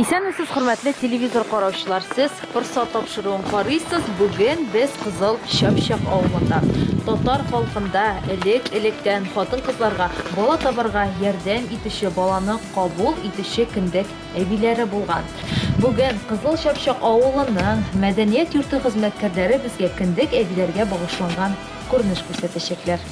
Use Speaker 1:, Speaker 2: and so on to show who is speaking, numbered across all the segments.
Speaker 1: Исәнмесез, хөрмәтле телевизор караучылар! Сез Форсат тапшыруын карыйсыз. Бүген без Кызыл Чапчак авылында. Татар халкында элек-электән хатын-кызларга бала табарга ярдәм итүче, баланы кабул итүче кендек әбиләре булган. Бүген Кызыл Чапчак авылының мәдәният йорты хезмәткәрләре безгә кендек әбиләргә багышланган күренеш күрсәтәчәкләр.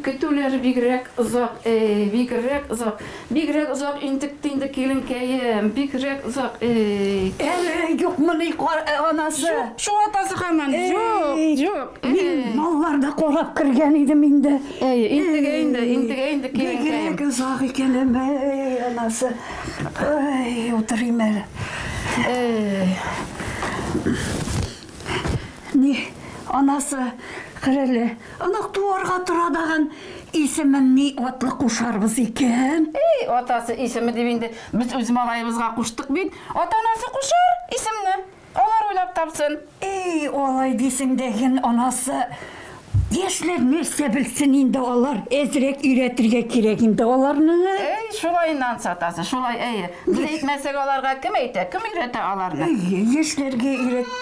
Speaker 2: көтүләр бигрәк озак, э, бигрәк озак, бигрәк озак интекте инде киленкәем, бигрәк озак. Э. Әле
Speaker 3: юкмыни э, анасы? Шул атасы
Speaker 2: хаман. Юк, юк. Э. Мин малларда
Speaker 3: карап кергән идем инде. Әй, интегә инде,
Speaker 2: интегә инде киленкәем. Бигрәк озак икән,
Speaker 3: әй, анасы. Ой, утырыйм әле. Эй. Ни, анасы, хәрәле, анак туарга тора даган исемен ни атлы кушарбыз икән? Эй, атасы
Speaker 2: исеме дип инде без үз малаебызга куштык бит. Ата-анасы кушар исемне. Алар уйлап тапсын. Ий, алай
Speaker 3: дисең дә ген анасы. Яшьләр нәрсә белсен инде алар, әзрәк өйрәтергә кирәк инде аларны. Әй, шулай нанс
Speaker 2: атасы, шулай, әйе. Без әйтмәсәк аларга кем әйтә, кем өйрәтә аларны? Әйе, яшьләргә
Speaker 3: өйрәт.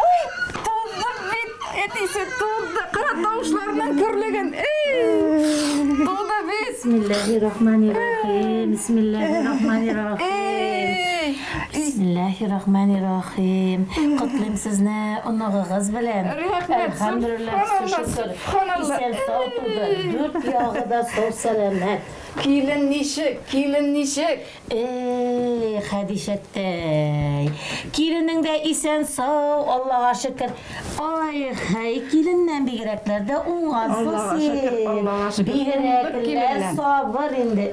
Speaker 3: Ой, туздык
Speaker 2: бит, әтисе, тузды, кара тавышларның көрлеген, ий, туды без. Бисмиллаһи рахмани
Speaker 4: рахим, бисмиллаһи рахмани рахим. Ий. Бисмилләһи рахмани рахим. Котлыйм сезне оныгыгыз белән. Әлхәмдүлилләһ, шөкер. Исән сау туды, дүрт ягы да сау сәламәт. Килен
Speaker 2: ничек, килен ничек? Эй,
Speaker 4: Хәдичәттәй. Киленең дә исән сау, Аллага шөкер. Ай, хәй, киленнән бигрәкләр дә уңгансың син. Бигрәкләр сабыр инде.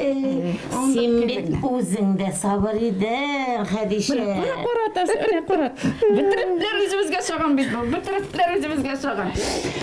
Speaker 4: Син бит үзең дә сабыр идең, Хәдичә. Менә карат, Асия, менә
Speaker 2: карат. Бөтерекләр үзебезгә чаган бит бу. Бөтерекләр үзебезгә чаган.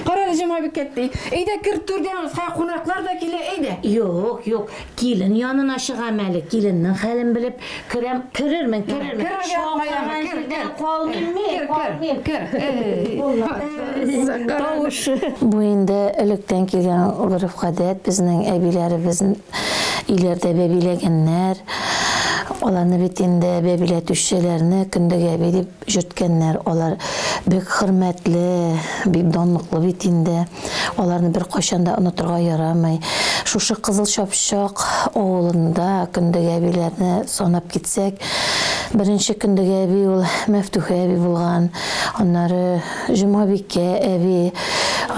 Speaker 2: Карале, җомга бик әти. Әйдә, кер түргә, кунаклар да килә, әйдә. Юк, юк.
Speaker 4: Килен янына чыгам әле, киленнең хәлен белеп керәм. Керермен, керермен. Кер, кер, Чаң кер, кер, кер, кер. Калмыйм мин, Кер, калмыйм. кер, кер. Тавыш. Бу инде электән килгән гореф-гадәт, безнең әбиләребез өйләрдә бәбиләгәннәр. Аларны бит инде бәбиләтүчеләрне Көндәг әби дип Йөрткәннәр, алар бик хөрмәтле, бик данлыклы бит инде, аларны беркайчан да онытырга ярамый. Шушы Кызыл Чапчак авылында Көндәг әбиләрне санап китсәк, беренче Көндәг әби ул Мәфтүхә әби булган, аннары Җомабикә әби,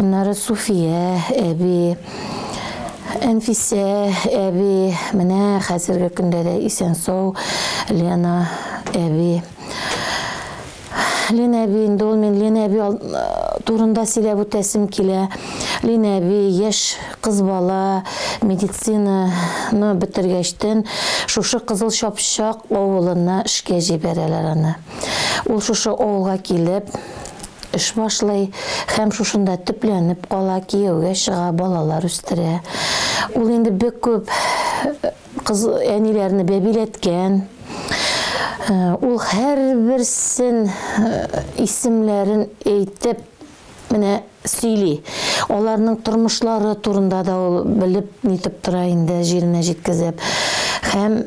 Speaker 4: аннары Суфия әби, Әнфисә әби, менә хәзерге көндә дә исән-сау Лена әби. Лен әби, инде ул мин Лен әби турында сөйләп үтәсем килә. Лен әби, яшь кыз бала, медицинаны бетергәчтен, шушы Кызыл Чапчак авылына эшкә җибәрәләр аны. Ул шушы авылга килеп, эш башлый һәм шушында төпләнеп кала, кияүгә чыга, балалар үстерә. Ул инде бик күп Кыз әниләрне бәбиләткән. Ул һәрберсен исемләрен әйтеп менә сөйли. Аларның тормышлары турында да ул белеп нитеп тора инде, җиренә җиткезеп. Һәм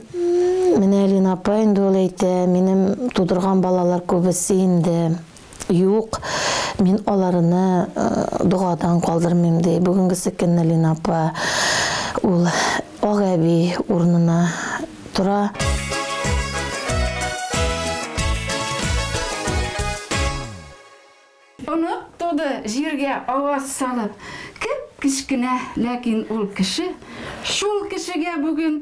Speaker 4: менә Лина апа инде ул әйтә, минем тудырган балалар күбесе инде Юк, мин аларыны догадан калдырмыйм, ди бүгенгесе көнне Лина апа. Ул ак әби урынына тора.
Speaker 2: Онык туды җиргә аваз салып. Кеп-кечкенә, ләкин ул кеше. Шул кешегә бүген.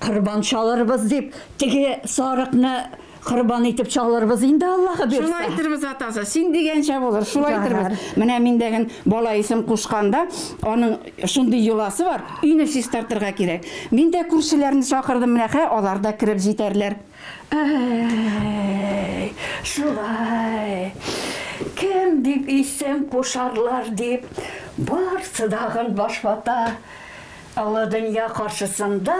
Speaker 3: Корбан чалырбыз дип, теге сарыкны корбан итеп чалырбыз инде, Аллаһы бирсә. Шулай иттербез, атасы.
Speaker 2: Син дигәнчә булыр, шулай иттербез. Менә мин дәген бала исем кушканда, аның шундый йоласы бар, өйне чистартырга кирәк. Мин дә күршеләрне чакырдым, менә хә, алар да кереп җитәрләр. Әй,
Speaker 3: шулай. Кем дип исем кушарлар дип, барсы дагын баш вата. Олы дөнья каршысында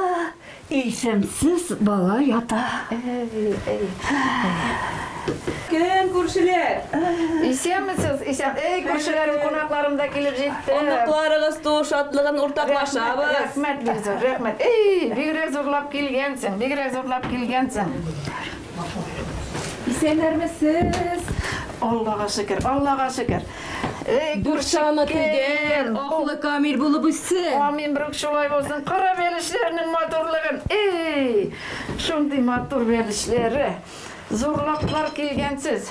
Speaker 3: исемсез бала ята.
Speaker 5: Кем, күршеләр? Исәнмесез,
Speaker 2: исән. Эй, күршеләрем, кунакларым да килеп җитте. Оныкларыгыз туу
Speaker 5: шатлыгын уртаклашабыз. Рәхмәт, бик зур,
Speaker 2: рәхмәт. Эй, бигрәк зурлап килгәнсең, бигрәк зурлап килгәнсең.
Speaker 5: Исәннәрмесез! Аллага
Speaker 2: шөкер, Аллага шөкер! Эй, Дүртчаны
Speaker 5: тигән, аклы камил булып үссен! Амин, брук шулай
Speaker 2: булсын! Кара бәлешләрнең матурлыгын! Эй! Шундый матур бәлешләре! Зурлаклар килгәнсез!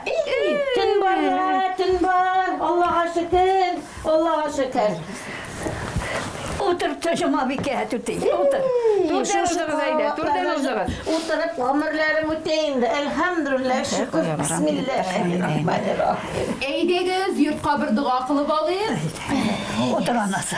Speaker 4: Ий-ий-ий!
Speaker 2: Төн бар
Speaker 4: да, төн бар! Аллага шөкер! Аллага шөкер!
Speaker 3: Утыр, Җомабикә түти, утыр. Түрдән узыгыз әйдә, түрдән узыгыз.
Speaker 4: Утырып гомерләрем үтә инде, әлхәмдүлилләһ, шөкер, бисмилләһи-рахмани-рахим. Әйдәгез, йортка
Speaker 1: бер дога кылып алыйк. Утыр,
Speaker 3: анасы.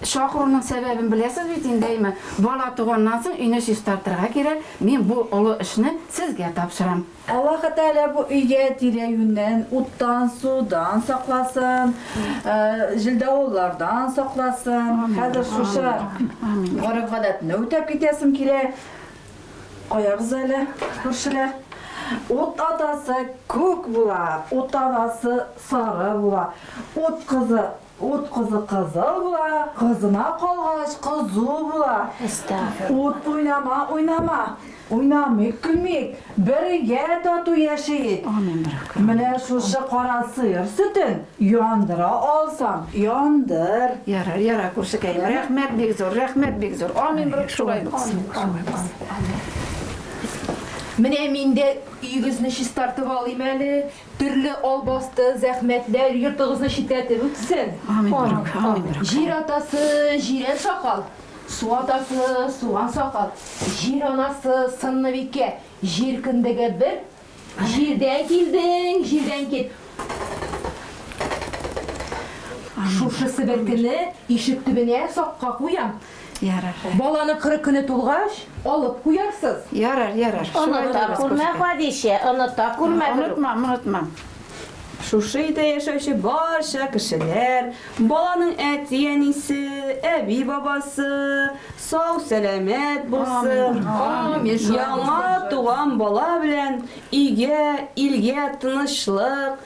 Speaker 2: Чакыруның сәбәбен беләсез бит инде, әйме? Бала туганнан соң өйне чистартырга кирәк, мин бу олы эшне сезгә тапшырам. Аллаһы Тәгалә
Speaker 5: бу өйгә тирә-юньнән уттан, судан сакласын, җилдавыллардан сакласын. Хәзер шушы гореф-гадәтне үтәп китәсем килә. Куябыз әле, күршеләр. Ут атасы күк була, ут анасы сары була, ут кызы Ут кызы кызыл була, кызына калгач кызу була. Ут уйнама, уйнама. Уйнамыйк, көлмик, бергә тату яшиек. Менә шушы кара сыер сөтен яндыра алсаң, яндыр. Ярар, ярар,
Speaker 2: күршекәем, рәхмәт бик зур, рәхмәт бик зур. Амин, берүк шулай булсын.
Speaker 1: Менә мин дә өегезне чистартып алыйм әле, Төрле албасты, зәхмәтләр йортыгызны читләтеп үтсен!
Speaker 2: Җир атасы,
Speaker 1: җирән сакал, су атасы, суган сакал, җир анасы, сынныбикә, җир кендеге бер, җирдән килдең, җирдән кит! Шушы себеркене ишек төбенә сакка куям. Ярар.
Speaker 2: Баланың кырык көне
Speaker 1: тулгач, алып куярсыз. Ярар, ярар.
Speaker 2: Оныта
Speaker 4: күрмә, Хәдичә, оныта күрмә. Онытмам, онытмам.
Speaker 5: Шушы өйдә яшәүче барча кешеләр, баланың әти-әнисе, әби-бабасы сау-сәламәт булсын, яңа туган бала белән өйгә, илгә тынычлык,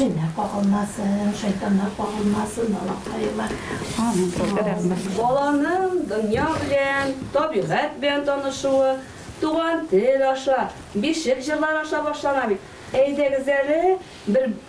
Speaker 4: Җеннәр кагылмасын, шайтаннар кагылмасын, балакаема.
Speaker 5: Амин.
Speaker 4: Рәхмәт. Баланың
Speaker 6: дөнья белән, табигать белән танышуы туган тел аша, бишек җырлары аша башлана бит. Әйдәгез әле бер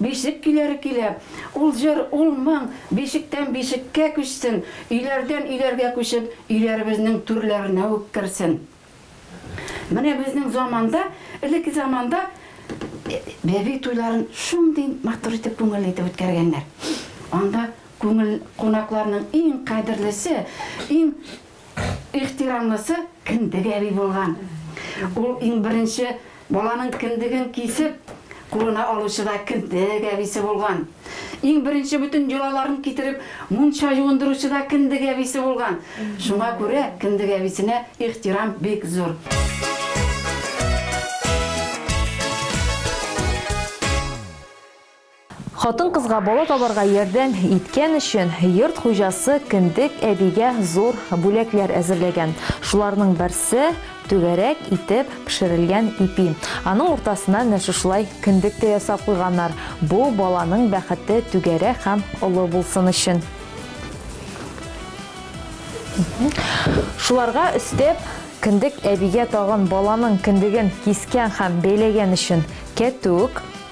Speaker 2: Бишек көйләре көйләп, ул җыр, ул моң бишектән бишеккә күчсен, өйләрдән өйләргә күчеп, өйләребезнең түрләренә үк керсен. Менә безнең заманда, элекке заманда бәби туйларын шундый матур итеп, күңелле итеп үткәргәннәр. Анда күңел, кунакларның иң кадерлесе, иң. ихтирамлысы кендек әби булган. Ул иң беренче баланың кендеген кисеп, кулына алучы да кендек әбисе булган. Иң беренче бөтен йолаларын китереп, мунча юындыручы да кендек әбисе булган. Шуңа күрә кендек әбисенә ихтирам бик зур.
Speaker 1: Хатын-кызга бала табарга ярдәм иткән өчен йорт хуҗасы Кендек әбигә зур бүләкләр әзерләгән. Шуларның берсе, түгәрәк итеп пешерелгән ипи. Аның уртасына менә шушылай кендек тә ясап куйганнар, бу баланың бәхете түгәрәк һәм олы булсын өчен. Шуларга өстәп, Кендек әбигә тагын баланың кендеген кискән һәм бәйләгән өчен кәтүк.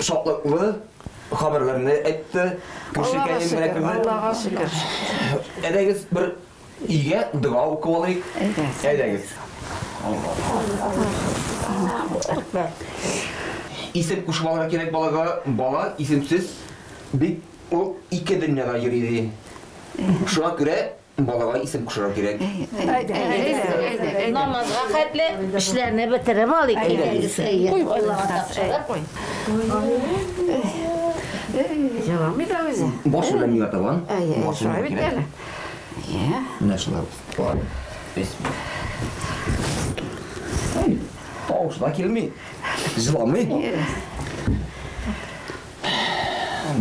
Speaker 7: шатлыклы хәбәрләрне әйтте.
Speaker 2: Аллага шөкер.
Speaker 7: Әйдәгез бер игә дога укып алыйк. Әйдәгез. Исем кушмалары кирәк балага. Бала исемсез бик ул ике дөньяда йөри ди. Шуңа күрә Балага исем кушырга кирәк.
Speaker 4: Намазга хәтле эшләрне бетереп алыйк инде. Куй балага тапшырып. Җыламый да үзе.
Speaker 2: Баш белән миңа табан.
Speaker 7: Шулай бит әле. Менә шулай. Тавышы да килми. Җыламый.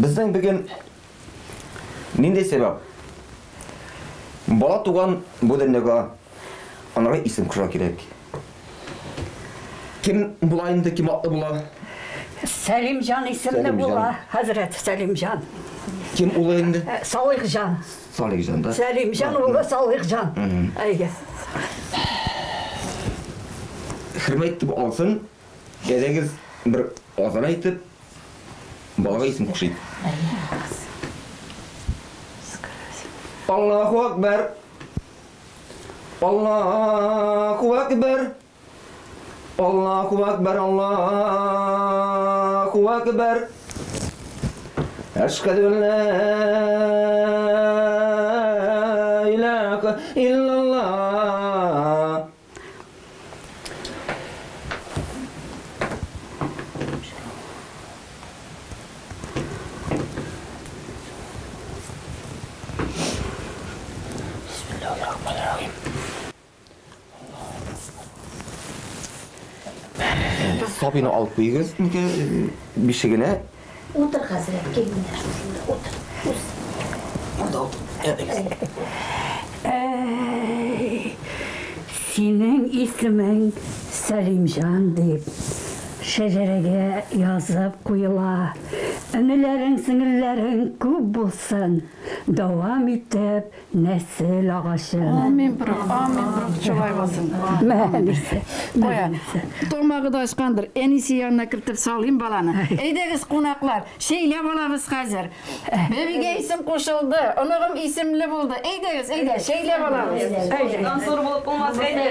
Speaker 7: Безнең бүген Нинди сәбәп? Бала туган бу дөньяга анага исем кушырга кирәк. Кем була инде, кем атлы була? Сәлимҗан
Speaker 3: исемле була, хәзрәт Сәлимҗан. Кем улы
Speaker 7: инде? Э, Салихҗан.
Speaker 3: Салихҗан да.
Speaker 7: Сәлимҗан улы Салихҗан.
Speaker 3: Әйе.
Speaker 7: Хөрмәт итеп алсын. Кәҗәгез бер азрак итеп, балага исем кушыйк. Аллаһу Әкбәр! Аллаһу Әкбәр! Аллаһу Әкбәр! Аллаһу Әкбәр! Әшһәдү ан лә илаһа илляллаһ Сабины алып куйыгыз. Бишегенә Утыр, хәзрәт,
Speaker 4: кил менә
Speaker 3: шушында утыр. Үз. Анда утыр. Синең исемең Сәлимҗан дип шәҗәрәгә язып куела. Энеләрең, сеңелләрең күп булсын, дәвам итеп Нәсел агачы. Амин, брух,
Speaker 2: амин, брух, шулай булсын. Мәнисе.
Speaker 3: Кая?
Speaker 2: Тамагы да ачкандыр. Әнисе янына кертеп салыйм баланы. Әйдәгез, кунаклар, чәйләп алабыз хәзер. Бәбигә исем кушылды, оныгым исемле булды. Әйдәгез, әйдә, чәйләп алабыз. Әйдә. Ансур булып
Speaker 6: булмас, әйдә.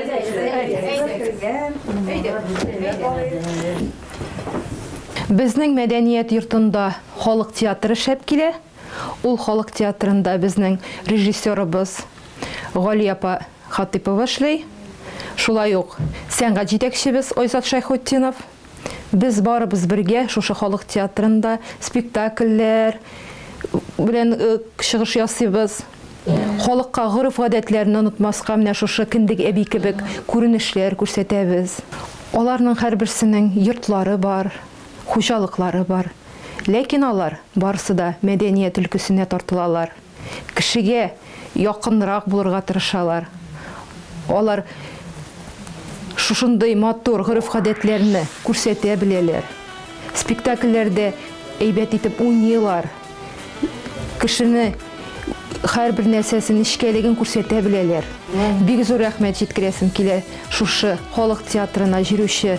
Speaker 8: Безнең мәдәният йортында халык театры шәп килә. Ул халык театрында безнең режиссерыбыз Гали апа Хатыйпова эшли. Шулай ук сәнгать җитәкчебез Айзат Шәйхутдинов. Без барыбыз бергә шушы халык театрында спектакльләр белән чыгыш ясыйбыз. Халыкка гореф-гадәтләрне онытмаска менә шушы Кендек әби кебек күренешләр күрсәтәбез. Аларның һәрберсенең йортлары бар, хуҗалыклары бар, ләкин алар барысы да мәдәният өлкәсенә тартылалар, кешегә якынрак булырга тырышалар, алар шушындый матур гореф-гадәтләрне күрсәтә беләләр, спектакльләрдә әйбәт итеп уйныйлар, кешене һәрбер нәрсәсе нечкәлеген күрсәтә беләләр. Бик зур рәхмәт җиткерәсем килә шушы халык театрына җөрүче.